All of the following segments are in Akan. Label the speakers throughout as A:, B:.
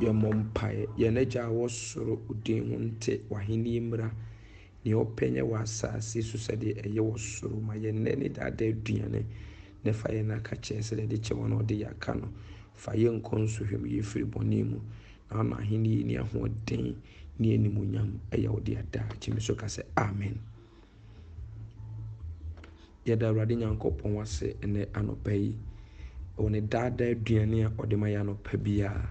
A: Yɛmmɔ mpaeɛ. Yɛn Agya a ɛwɔ soro, wo din ho nte, w'ahennie mmra. Deɛ ɔpɛ nyɛ wɔ asase so sɛdeɛ ɛyɛ wɔ soro. Ma yɛn nnɛ ne daadaa aduane, na fa yɛn aka kyɛ sɛdeɛ yɛde kyɛ wɔn a wɔde yɛn aka no. Fa yɛn nkɔ nsɔhwɛ mu, yɛn firi bɔne mu, na ama ahenni yi ne ahoɔden ne animuonyam ɛyɛ wo dea daa. Gye me so ka sɛ, Amen. Yɛda Awurade Nyankopɔn ase ɛnɛ anɔpa yi, wɔ ne daadaa aduane a ɔde ma yɛ anɔpa biara.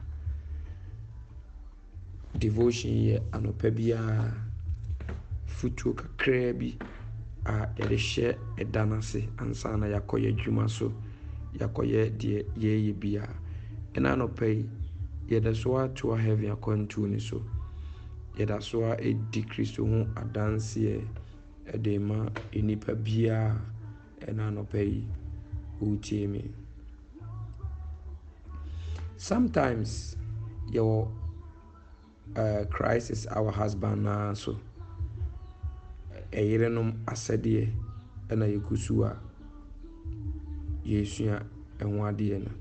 A: Devotion yɛ anɔpa biara fotuo kakraa bi a yɛde hyɛ ɛda no ase ansa na yɛakɔ yɛn adwuma so, yɛakɔyɛ deɛ yɛreyɛ biara. Ɛna anɔpa yi, yɛda so ara toa heaven akwantuo no so. Yɛda so ara ɛdi Kristo ho adanseɛ ɛde ma nnipa biara. Ɛna anɔpa yi wotie me. Sometimes yɛwɔ uh, crisis our husband naa so. Ɛyerenom asɛdeɛ ɛna yɛkɔ su a yɛresua ɛho adeɛ no.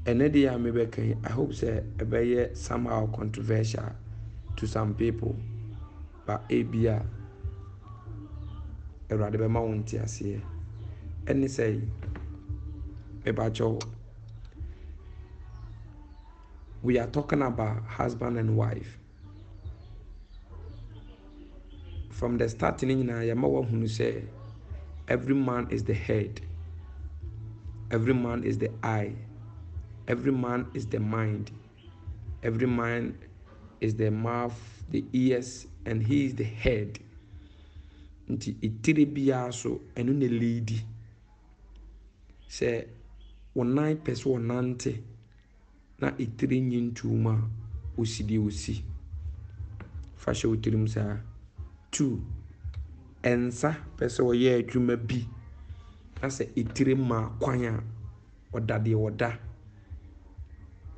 A: Ɛnɛ deɛ a mebɛka yi, I hope sɛ ɛbɛyɛ somehow controversial to some people. Ba ebia Awurade bɛma wo nteaseɛ. Ɛne sɛ, mebakyɛw, we are talking about husband and wife. From the start ne nyinaa yɛma wahunu sɛ every man is the head, every man is the eye, every man is the mind. Every man is the mouth, the ears and he is the head. Nti etire biara so ɛno na leadi. Sɛ wɔn nan pɛ sɛ ɔnante na etire nyi ntuo mu a, osi deɛ osi. Fa hyɛ wo tirim saa. Two, nsa pɛ sɛ ɔyɛ adwuma bi na sɛ etire maa kwan a, ɔda deɛ ɔda.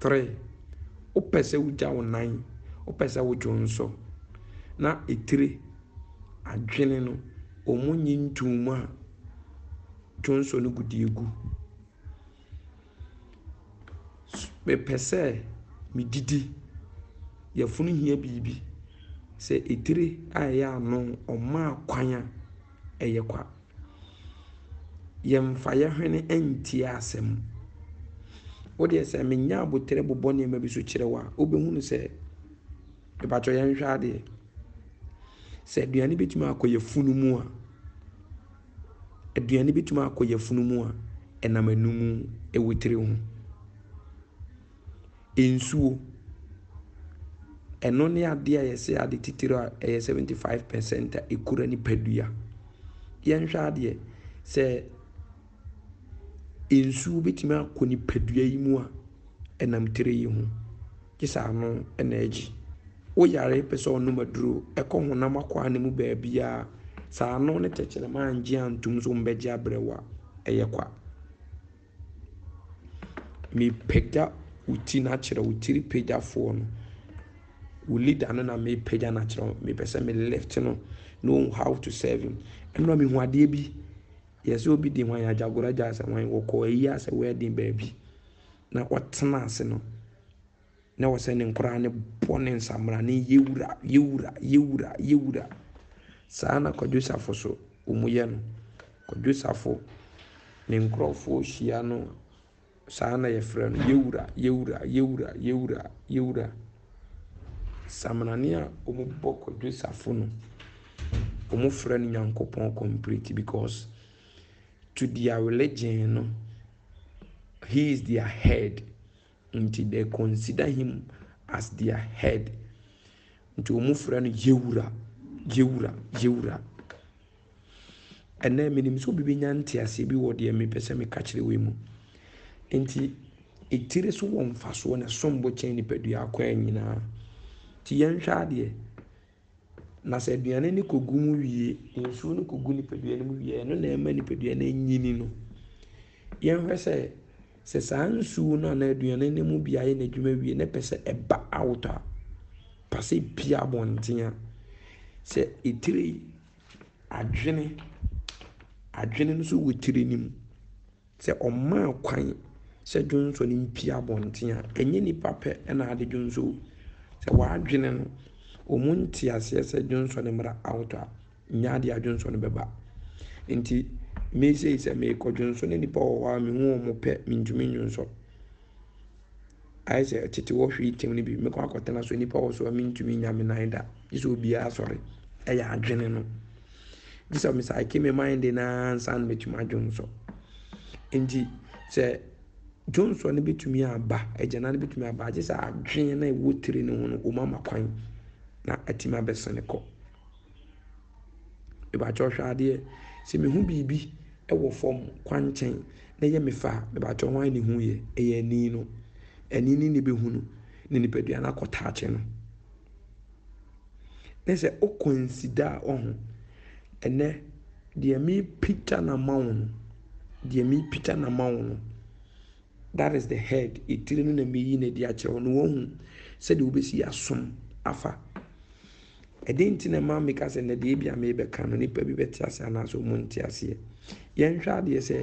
A: Three, wopɛ sɛ wogya wo nan, wopɛ sɛ wodwo nso, na etire, adwene no, wɔn nyi ntuu mu a, dwonsɔ no gu deɛ egu. Mepɛ sɛ medidi, yafunu hia biribi, sɛ etire a ɛyɛ ano ɔmaa kwan a, ɛyɛ kwa. Yɛmfa yɛn hwene ntie asɛm. Wo deɛ sɛ menya aboterɛ bobɔ nneɛma bi so kyerɛ wo a, wobɛhunu sɛ mepakyɛ yɛnhwɛ adeɛ. Sɛ aduane bɛtumi akɔ yɛfunu mu a, aduane bɛtumi akɔ yɛfunu mu a, ɛnam anomu ɛwɔ tiri ho. Nsuo, ɛno ne adeɛ a yɛse ade titire a ɛyɛ 75 percent a ɛkura nipadua. Yɛnhwɛ adeɛ, sɛ nsuo bɛtumi akɔ nipadua yi mu a, ɛnam tire yi ho. Gye sɛ ano na agye. Woyare pɛ sɛ ɔnom aduro ɛkɔ honam akwaa no mu baabiara a, sɛ ano ne tɛkyerɛma angye antom sɛ wɔbɛgye abrɛ wo a, ɛyɛ kwa. Mepagya wo ti no akyerɛ wo, tiri pagyafoɔ no. Wo leader no na mepagya no akyerɛ wo. Mepɛ sɛ me lift no na ɔhu how to serve him. Ɛnora mehu adeɛ bi. Yɛ sɛ obi de hwan agyagora gya asɛ hwan wɔkɔ ayi asɛ wedding baabi na ɔtena ase no. na ɔsɛ ne nkoraa no bɔ ne nsamena ne yɛ wura, yɛ wura, yɛ wura, yɛ wura. Saa na Kwadwo Safo so wɔn yɛ no. Kwadwo Safo ne nkorɔfoɔ hyia no saa na yɛfrɛ no yɛ wura, yɛ wura, yɛ wura, yɛ wura, yɛ wura. Saminani a wɔn bɔ Kwadwo Safo no, wɔn frɛ no Nyankopɔn complete because to their religion no, he is their head. Nti they consider him as their head. Nti wɔn frɛ no yewura, yewura, yewura. Ɛnɛ menim sɛ obi bɛnya nteaseɛ bi wɔ deɛ mepɛ sɛ meka kyerɛ wei mu. Nti etire so wɔ mfasoɔ na ɛsom bo kyɛn nipadua akwan nyinaa. Nti yɛnhwɛ adeɛ. Na sɛ aduane no kɔgu mu wie, nsuo no kɔgu nipadua no mu wie a, ɛno na ɛma nipadua no nyini no. Yɛnhwɛ sɛ, sɛ saa nsuo no anaa aduane no mu bi ayɛ n'adwuma wie na ɛpɛ sɛ ɛba out a, pa sɛ pie abɔnten a, sɛ etire adwene, adwene no nso wɔ tire no mu. Sɛ ɔmaa kwan sɛ dwonsɔ no mpue abɔnten a, ɛnyɛ nnipa pɛ na ade dwonsɔ o. Sɛ w'adwene no, wɔn nte aseɛ sɛ dwonsɔ no mmra out a, nyɛ adeɛ a dwonsɔ no bɛba. Nti me sei sɛ meekɔ dwonsɔ na nnipa wɔ hɔ a mehu wɔn pɛ, mentumi nnwonsɔ. Ayɛ sɛ tete wɔ hwee tem no bi, mɛkɔ akɔtena so a nnipa wɔ so a mentumi nya me nan da. Gye sɛ obiara sɔre. Ɛyɛ adwene no. Gye sɛ mesaeke me mind no ara ansa na matumi adwonsɔ. Nti sɛ dwonsɔ no bɛtumi aba, agyana no bɛtumi aba, gye sɛ adwene no a ɛwɔ tiri no ho no, wɔma ma kwan na atumi abɛsene kɔ. Mebakyɛw hwɛ adeɛ, sɛ mehu biribi wɔ fam kwankyɛn na ɛyɛ me fɛ a, mebakyɛw hwan na ehuiɛ? Ɛyɛ ani no. Ani no na ɛbɛhu no, na nipadua no akɔtaakye no. Ne sɛ wokɔ nsida a, wahu. Ɛnnɛ, deɛ mepagya no ama wo no, deɛ mepagya no ama wo no, that is the head, etire no na meyi no adi akyerɛ wo no, wahu sɛdeɛ wobɛsi asom afa. Ɛdeɛn nti na ɛma meka sɛ na deɛ ebia merebɛka no nnipa bi bɛte aseɛ anaasɛ wɔn nte aseɛ? Yɛnhwɛ adeɛ sɛ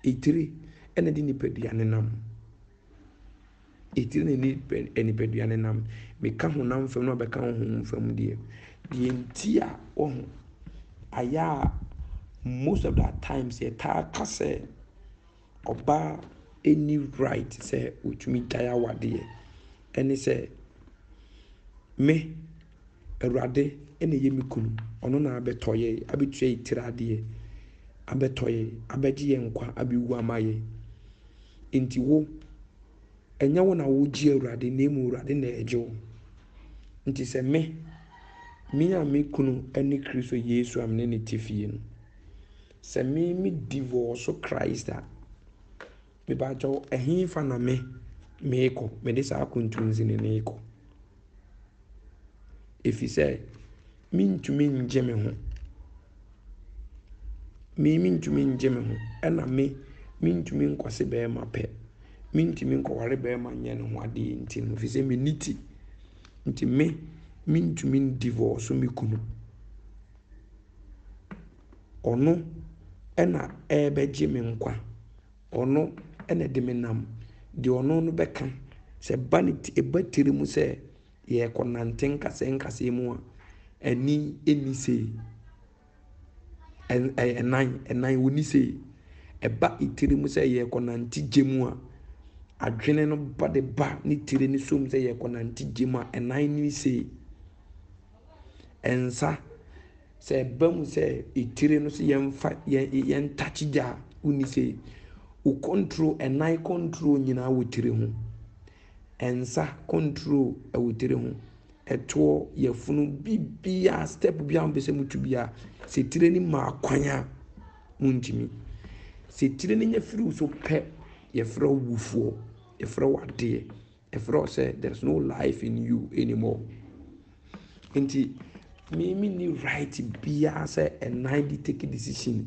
A: etire ɛna de nipadua no nam. Etire na nipa eh, nipadua no nam. Meka honam fam na ɔbɛka honhom fam deɛ. Deɛ nti a wɔho ayɛ a most of the times yɛtaa ka sɛ ɔbaa nni right sɛ ɔtumi gyae awadeɛ. Ɛne sɛ, me, Awurade na ɛyɛ me kunu, ɔno na abɛtɔ yɛn, abɛtua yɛn tiri adeɛ, abɛtɔ yɛn, abɛgye yɛn nkwa, abɛwu ama yɛn. Enti wo, ɛnyɛ wo na wogye Awurade na mmom Awurade na ɛgye wo. Nti sɛ me, me a me kunu ne Kristo Yesu a me ne no te fie no, Sɛ me me divorce so Christ a, me pa kyɛw ɛhefa na me me kɔ, me de saa kontunsi ne ne kɔ. Efi sɛ, me ntumi ngye me ho. Me me ntumi ngye me ho, ɛna me me ntumi nkɔse bɛɛma pɛ. Me ntumi nkɔware bɛɛma nyɛ ne ho adeɛ nti no, efi sɛ me ni ti. Nti me me ntumi divorce so me kunu. Ɔno na ɛrebɛgye me nkwa. Ɔno na ɛde me nam deɛ ɔno no bɛka. Sɛ ɛba ne ti ɛba tiri mu sɛ yɛrekɔnante nkasɛɛ nkasɛɛ mu a, ani nni sei. Ɛnan ɛnan wɔnni sei. Ɛba tiri mu sɛ yɛrekɔnante gya mu a, adwene no ba de ba ne tiri no so mu sɛ yɛrekɔnante gya mu a, ɛnan nni sei. Ɛnsa sɛ ɛba mu sɛ etire no so yɛmfa yɛn takye gya a, wonni sɛ wo control, ɛnan control nyinaa wɔ tire ho. Ɛnsa control ɛwɔ tire ho. Ɛtoɔ, yɛfunu, bibia, step bia mpɛ sɛ mutu bia, sɛ tire no ma kwan a, muntumi. Sɛ tire no nya firi wo so pɛ, yɛfrɛ wo wufoɔ, yɛfrɛ wo adeɛ. Ɛfrɛ wo sɛ there is no life in you anymore. Nti me me ni right biara sɛ ɛnan di take decision,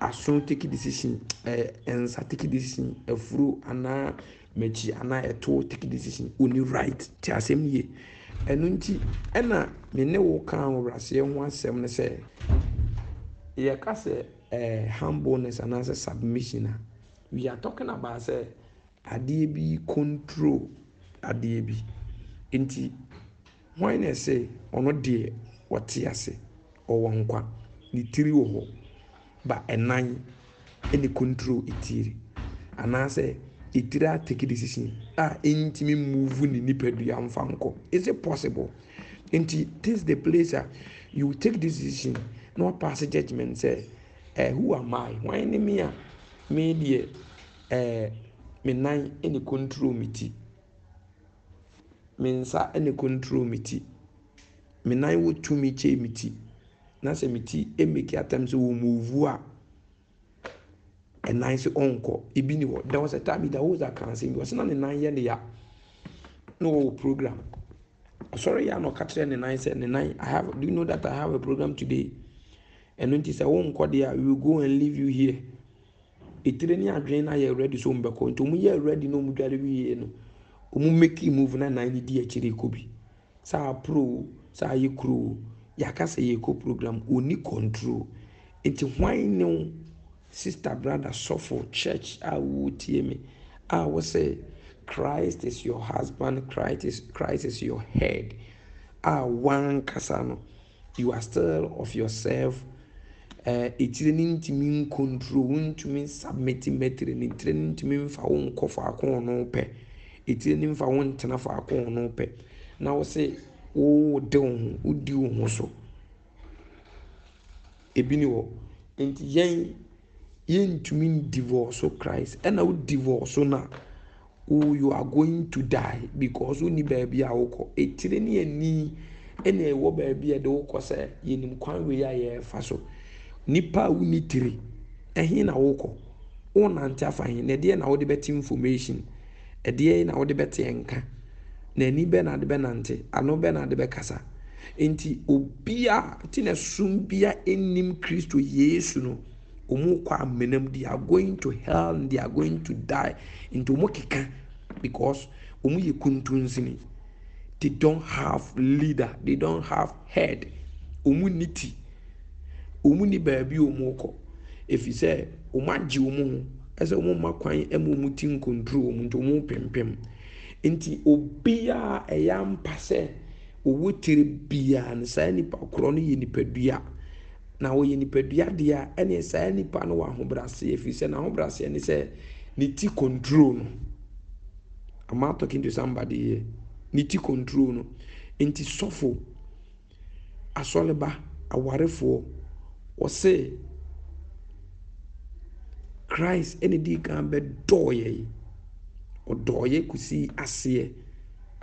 A: aso take decision, ɛɛ nsa take decision, afuro anaa m'akyi anaa ɛto take decision. Oni right te asɛm yie. Ɛno nti ɛna me ne wo kaa ahobraseɛ ho asɛm no sɛ yɛka sɛ ɛɛ humbleness anaasɛ submission a we are talking about sɛ Adeɛ bi control adeɛ bi. Nti hwan na ɛsɛ ɔno deɛ ɔte ase, ɔwɔ nkwa, ne tiri wɔ hɔ, ba ɛnan na control etiri. Anaasɛ etiri a take decision a ɛntumi move ne nipadua mfa nkɔ. Is it possible? Nti this is the place a you will take this decision na wa pass judgement sɛ eh who am I, hwan ne me a me deɛ Ɛɛ, me nan na ɛkɔntrol me ti. Me nsa na ɛkɔntrol me ti. Me nan wɔ tumi kyɛn me ti. Na sɛ me ti meki atɛm sɛ wɔmuvu a, ɛnan sɛ ɔnkɔ. Ebi ni hɔ. There was a time Ida Hoza kaa asɛm bi. Ɔsɛ na ne nan yɛ ne ya. Na ɔwɔ program. Ɔsɔre yɛ a na ɔka kyerɛ ne nan sɛ, ne nan, I have, do you know that I have a program today? Ɛno nti sɛ wonkɔ deɛ a, we will go and leave you here. etire ne adwene no ayɛ ready sɛ wɔbɛkɔ nti wɔn yɛ ready na wɔn dware wie no wɔn make move na nan no di akyire kɔ bi sɛ apro sɛ ayɛ kuro yɛaka sɛ yɛkɔ program ɔni control nti hwan ne wo sister brother sɔfo church a wotie me a wo sɛ Christ is your husband Christ is, Christ is your head a wankasa no You are still of yourself eh, etire no ntumi nkontro, wontumi nsubmiti mma etire no, etire no ntumi nfa wo nkɔ faako ɔno pɛ, etire no nfa wo ntena faako ɔno pɛ, na wo se wode wo ho, wodi wo ho so. Ebi ni hɔ. Enti yɛn, yɛntumi ndivoɔso Christ. Ɛna wo divoɔso no a, wo you are going to die because wonni baabi a wokɔ. Etire ne ani ɛna ɛwɔ baabi a ɛde wokɔ sɛ yɛnim kwan wei a yɛrefa so. Nipa a wonni tire, ɛhe na wokɔ? Wonante afa he? Na ɛdeɛn na wode bɛte information? Ɛdeɛn na wode bɛteɛ nka? Na ani bɛn na ade bɛnante? Ano bɛn na ade bɛkasa? Enti obi a nti na sum biara nnim Kristo Yesu no, wɔkɔ amena mu, they are going to hell and they are going to die. Nti wɔkeka because wɔyɛ kuntunsini. They don't have leader, they don't have head, wɔn nni ti, wɔn nni baabi a wɔrekɔ, ɛfiri sɛ wɔagye wɔn ho sɛ wɔn mma kwan ma wɔn ti nkontro wɔn nti wɔrepempem. Nti obiara ɛyɛ ampa sɛ ɔwɔ tiri biara no saa nipa korɔ no yɛ nipadua na ɔyɛ nipadua deɛ a ɛne saa nipa no wɔ ahobrɛaseɛ ɛfiri sɛ n'ahobrɛaseɛ ne sɛ ne ti kontro no. Am I talking to somebody here? Ne ti control no. Nti sɔfo, asɔreba, awarefoɔ, wɔse Christ ɛna ɛdii kan bɛdɔɔ yɛn. Ɔdɔɔ yɛn kɔsii aseɛ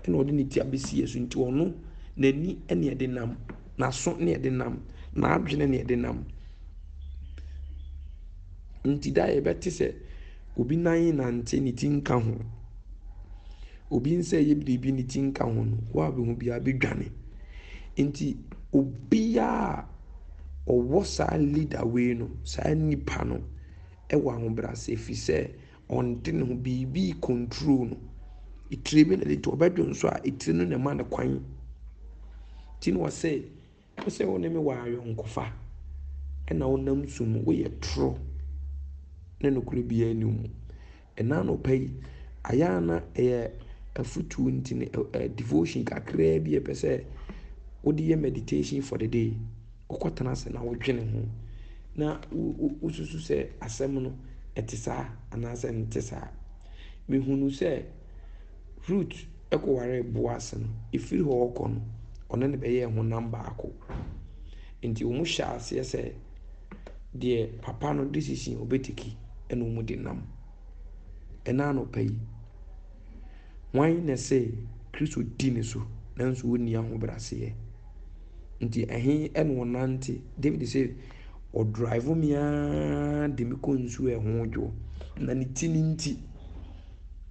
A: ɛna ɔde ne ti abɛsi yɛn so. Nti ɔno n'ani ɛne ɛde nam, n'aso ne ɛde nam, n'adwene ne ɛde nam. Nti da yɛbɛte sɛ Obi nan nante ne ti nka ho. Obi nsa yɛ biribi ne ti nka ho no, wo a bɛhu biara bɛdwane. Nti obiara a ɔwɔ saa leader wei no, saa nipa no wɔ ahobrɛase ɛfiri sɛ ɔnte ne ho, biribi recontrol no. Etire bi na ɛde to hɔ, ɔbɛdwo nso a, etire no na ɛma no kwan. Nti na ɔse. Ɛsɛ sɛ wo ne me wɔ ayɔnkofa na wonam su mu. Woyɛ toro ne nokorɛ biara nni wo mu. Ɛna anɔpa yi, ayɛ a na ɛyɛ afutuo nti no, devotion kakraa bi a ɛpɛ sɛ wode yɛ meditation for the day. Wokɔtena ase na wodwene ho na wosusu sɛ asɛm no ɛte saa anaasɛ nte saa. Mehunu sɛ Rut kɔwaree Boas no, firi hɔ rekɔ no, ɔne no bɛyɛɛ honam baako. Enti wɔhyɛɛ aseɛ sɛ deɛ papa no decision ɔbɛteki ɛna wɔde nam. Ɛna anɔpa yi, hwan na ɛsɛ Kristo di ne so nanso ɔnni ahobraseɛ? Nti ɛhe ɛna ɔnante? David sɛ, ɔdrive me ara de me kɔ nsuo a ɛho dwoɔ, na ne ti no nti.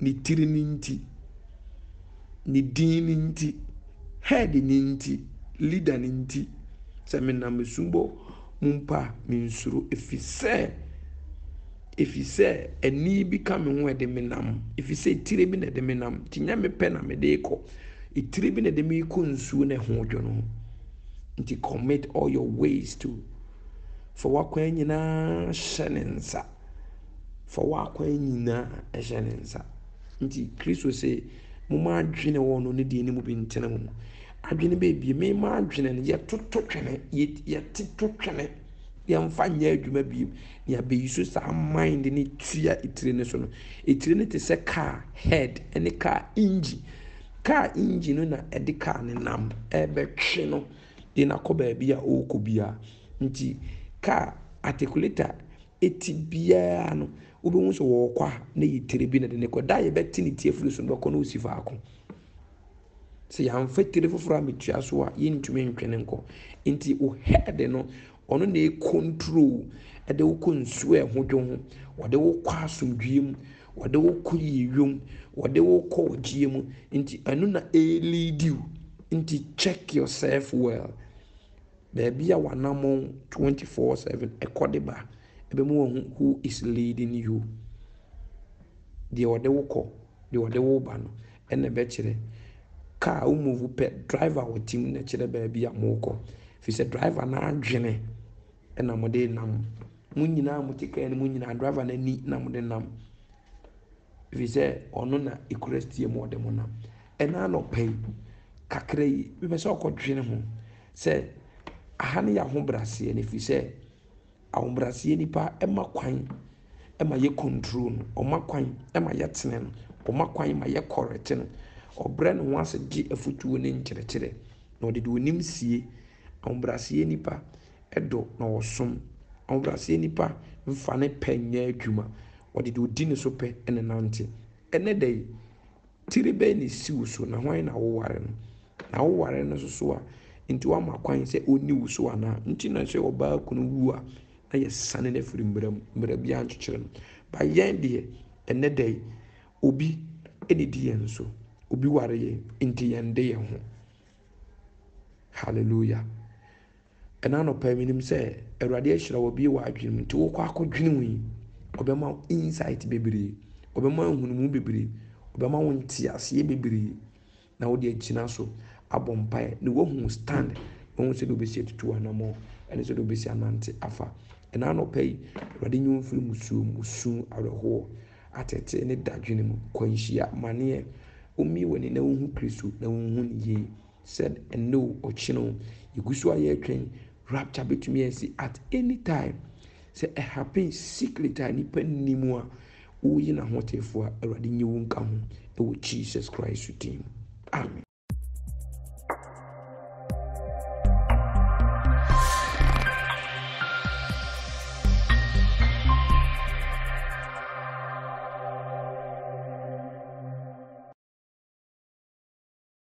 A: Ne tiri no nti, ne din no nti, head no nti, leader no nti, sɛ menam asubɔ mu mpo a, mensuro, ɛfiri sɛ, ɛfiri sɛ ɛnne bi ka me ho a ɛde me nam, ɛfiri sɛ etire bi na ɛde me nam, nti nyɛ me pɛ na mede rekɔ, etire bi na ɛde me rekɔ nsuo na ɛho dwo no ho. Nti commit all your ways to, fa w'akwan nyinaa hyɛ ne nsa. Fa w'akwan nyinaa hyɛ ne nsa. Nti Kristo se, Momma adwene wɔ ɔno ne deɛ ne mu bi ntena mu. Adwene bɛbie. Mema adwene no, yɛtoto twene, yɛtoto twene, yɛmfa nyɛ adwuma bie. Ne abɛyi so saa mind ne tua etire no so no. Etire no te sɛ kaa head ne kaa engine. Kaa engine no na ɛde kaa no nam ɛrebɛtwe no de no akɔ baabi a ɔrekɔ biara. Nti kaa articulator. ti biara no, wobɛhu sɛ ɔrekɔ a, na ɛyɛ tire bi na ɛde no rekɔ. Da a yɛbɛte ne ti afiri so no bɛkɔ na ɔsi faako. Sɛ yɛamfa tire foforɔ ametua so a, yɛntumi ntwe no nkɔ. Nti wo head no, ɔno na ɛkɔntro, ɛde wo kɔ nsuo a ɛho dwo ho, ɔde wo kɔ asomdwoeɛ mu, ɔde wo kɔ yieyɔ mu, ɔde wo kɔ ɔgyeɛ mu. Nti ɛno na ɛreleadi wo. Nti check yourself well. Baabi a w'anammɔn twenty four seven kɔ de ba, ɛbɛma wahu who is leading you. Deɛ ɔde wo kɔ, deɛ ɔde wo ba no, ɛna ɛbɛkyerɛ. Kaa a wo move pɛ, driver a ɔte mu na kyerɛ baabi a morekɔ. Ɛfiri sɛ driver no adwene na mode nam. Mo nyinaa a mote kaa no mu nyinaa, driver no ani na mode nam. Ɛfiri sɛ ɔno na ɛkura steer mu ɔde mo nam. Ɛnnɛ anɔpa yi, kakra yi, mepɛ sɛ ɔkɔdwene ho sɛ aha no yɛ ahobrɛaseɛ no ɛfiri sɛ ahobrɛaseɛ nipa ɛma kwan ɛma yɛ control no ɔma kwan ɛma yɛtene no ɔma kwan ma yɛ correct no ɔbrɛ ne ho ase gye afotuo ne nkyerɛkyerɛ na ɔde de onim sie ahobrɛaseɛ nipa ɛdɔ na ɔsom ahobrɛaseɛ nipa mfa ne pɛ nyɛ adwuma ɔde de odi ne so pɛ ɛne nante ɛnɛ da yi Tiri bɛn na esi wo so, na hwan na woware no? Na woware no nso so a, enti woama kwan sɛ onni wo so anaa? Enti na sɛ ɔbaa kunu wu a, na yɛsiane no firi mmara mu. Mmara biara nkyekyere no. But yɛn deɛ, ɛnnɛ da yi, obi na edi yɛn so. Obi ware yɛn, enti yɛn de yɛn ho. Hallelujah! Ɛna anɔpa yi menim sɛ awurade ahyira wo abie w'adwene mu nti wokɔ akɔ dwene mu yi ɔbɛma wo insight bebree ɔbɛma wo nhunumu bebree ɔbɛma wo nteaseɛ bebree na wode agyina so abɔ mpaeɛ na wahu stand wahu sɛdeɛ wobɛsi atutu anamɔ ɛne sɛdeɛ wobɛsi anante afa ɛna anɔpa yi awurade nyɛ mfiri musuo musu awerɛhoɔ atete ne dadwene mu kwanhyia maneɛ womie w'ani na wohu kristo na wohu ne yie Sɛ ɛnnɛ o, ɔkyena o, yɛgu so a yɛretwɛn. Rapture bɛtumi asi at any time. Sɛ ɛhappen secret a nipa nni mu a, woyi n'ahotefoɔ a, Awurade nyi wo nka ho wɔ Jesus Christ din mu. Amen.